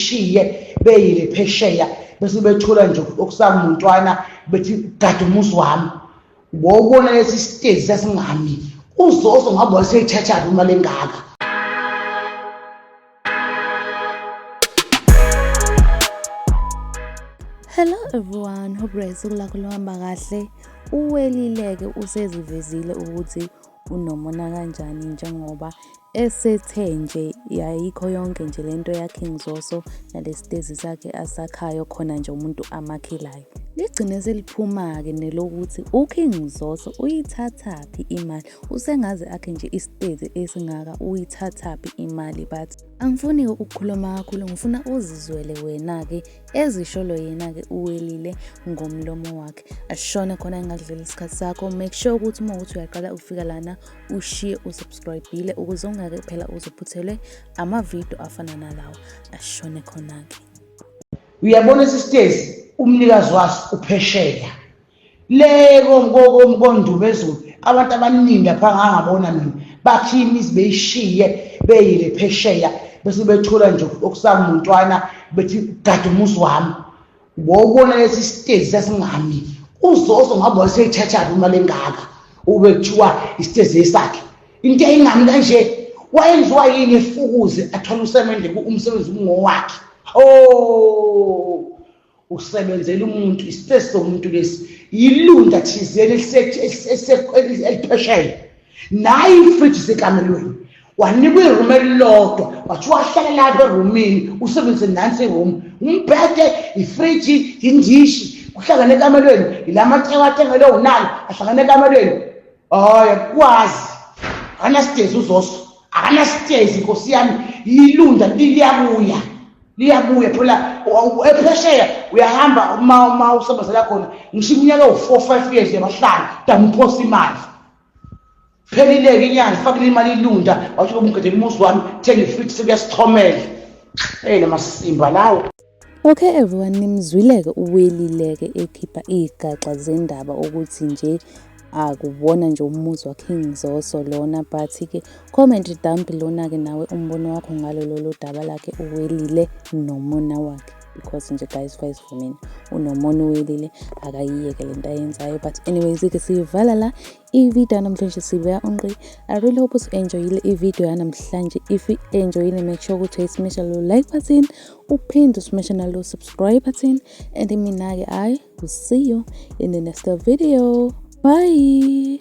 bayishiye beyile phesheya bese bethula nje okusamuntwana bethi gada umuzi wami wawubona lesi sitezi sasingami uzozo ngabe waseyithathaphi imali engaka hello everyone hope guys ukulakho luhamba kahle uwelileke usezivezile ukuthi unomona kanjani njengoba esethe nje yayikho yonke nje le nto yaKing Zoso nalesitezi sakhe asakhayo khona nje umuntu amakhelayo. Ligcine seliphuma-ke nelokuthi uKing Zoso uyithathaphi imali, usengaze akhe nje isitezi esingaka uyithathaphi imali but angifuni-ke ukukhuluma kakhulu ngifuna uzizwele wena-ke ezisholo yena-ke uwelile ngomlomo wakhe ashona khona engadlula isikhathi sakho make sure ukuthi uma ukuthi uyaqala ukufika lana ushiye usubscribile ukuze ungake phela uzophuthelwe amavidiyo afana nalawo ashone khona-ke uyabona sisitezi umnikazi waso uphesheya le komkondumezulu abantu abaningi apha ngangabona mina bakhiye imizi beyishiye beyile phesheya bese bethola nje okusamuntwana bethi gade umuzi wami wawubona lesi sitezi sasingami uzozo ngabe waseyithathaphi imali engaka ube kuthiwa isitezi esakhe into eyingami kanje wayenziwa yini efukuze athole usemende umsebenzi umngowakhe o oh. usebenzela umuntu isipesi somuntu lesi yilunda thizeni eliphesheya naye ifriji sekamelweni wanikwa irumu elilodwa wathi wahlala lapha erumini usebenzise nansi irumu umbhede ifriji yindishi kuhlangane ekamelweni yila macewathengelwe unani ahlangane ekamelweni hayi akwazi akanasitezi uzoso akanasitezi nkosi yami yilunda liyabuya liyabuya phela ephesheya uyahamba uma uma usebenzela khona ngisho iminyaka ewu-four five years yabahlanu damuphosa imali phelileke inyanga fakile imali ilunda wathi ubumgedela umuzi wami thenga ifithi sekuyasithomela eyi namasimba lawo Okay everyone nimzwileke uwelileke ekhipha iy'gaxa zendaba ukuthi nje akuwona nje umuzi waKing Zoso lona but ke comment down below nake nawe umbono wakho ngalo lolu daba lakhe uwelile nomona wakhe because nje guys guys for mina unomona uwelile akayiyeke lento ayenzayo but anyways ke siyivala la I-video yanamhlanje sibuya unqi. I really hope usu-enjoyile i-video yanamhlanje. If i-enjoyile make sure ukuthi uyisimesha lo like button, uphinde usimeshe nalo subscribe button and mina-ke I will see you in the next video. Bye!